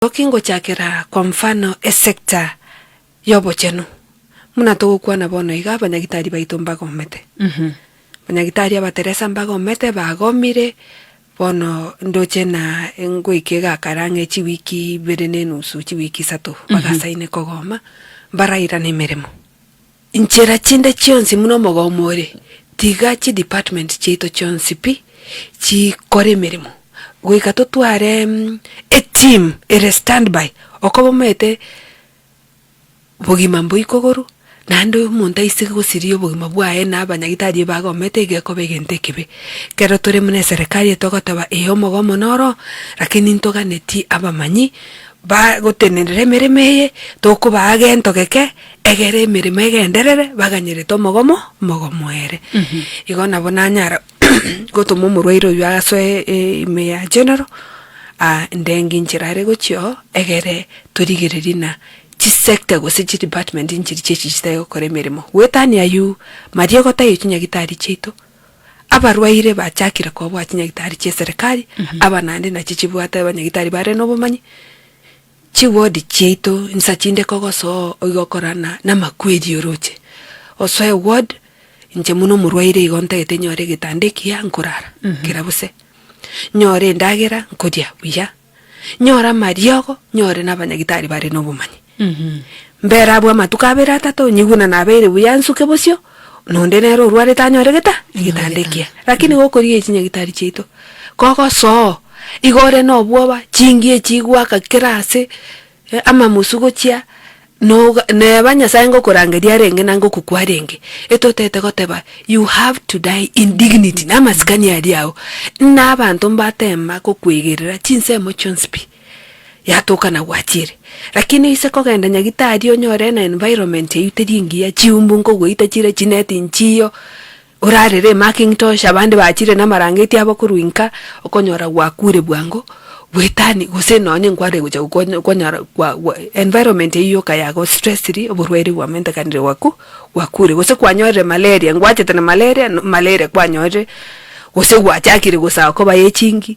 Toki ngochakera kwa mfano esecta y'obochenu, buna togokwana bono iga abanyagitari baito mbagomete. Abanyagitari abateresa mbagomete, bagomire, bono ndoche na ngoika egakara ang'e chiwiki ibere nenusu, chiwiki isato, bagasaine kogoma, mbarairane emeremo. Nchera chinde chionsi muna omogao more, tiga chi department chiaito chionsi pi chikore emeremo goika totware e team ere standby okoba omaete bogima mboi kogoru naende omonto aiseke gosiria obogima bwaye na abanyagitari eba agomete iga ekoba egento ekebe. Kero tore muna eserekari eye togoteba ee omogao one noro lakini ntoganeti abamanyi bagotenerera emeremo eye tokobaa gento geke. Egere emeremo egenderere, baganyerete omogomo mogomo ere. Igo nabo nanyara gotoma omorwaire oyio asoe e- e- ime ya general, ah, ndenge inchera are gochia oo, egere torigererie na chisector gose chidepartment nchiri chiachi chitari gokora emeremo. Goetania aywo, maria ogotaiyo chinyagitari chiaito, abarwaire bachakire kobwaa chinyagitari chia eserekari, aba naende nachi chibwate abanyagitari bare nobomanyi. Chiword chiaito insa chinde kogosoa oigo korana namakweri oroche osoe ward inche muna omorwaire igo ntagete nyore egetanda ekiya nkorara kera bose nyore endagera nkoria buya nyore amariogo nyore nabanyagitari bare nobomanyi mbere abwo amatuko abere atato nyigwe na nabeire buya nsuke bosio Nonde nere orwarete anyore geta? Egetanda ekiya. Lakini gokorigereria chinyagitari chiaito, kogosoo, igo ore nobwoba, chingie chigwaka kera ase, eh, amamusu gochia, noga neba Nyasaye ngokorangeria arenge na ngokokwa arenge, etotete goteba you have to die in dignity, namasikani aria ao, buna abanto mbatema gokwegerera chinsemo chionsi pi. yatoka na gwachiire. Lakini oise kogenda nyagitari onyore na environment eyio teri engiya, chiumbu nkogoita chire chineti nchiyo, orarere emaking tosh abande bachire na amarangeti abo korwa inka, okonyora gwakuure bwango, bwetani gose nonye nkwarire gocha gokonya okonyora gwa gwa environment eyio yoka ya go stressiri oborwaire bwamentekanire gwaku gwakuure gose kwanyorire malaria ngwachete na malaria no malaria kwanyorire, gose gwachakire gosaga koba echingi.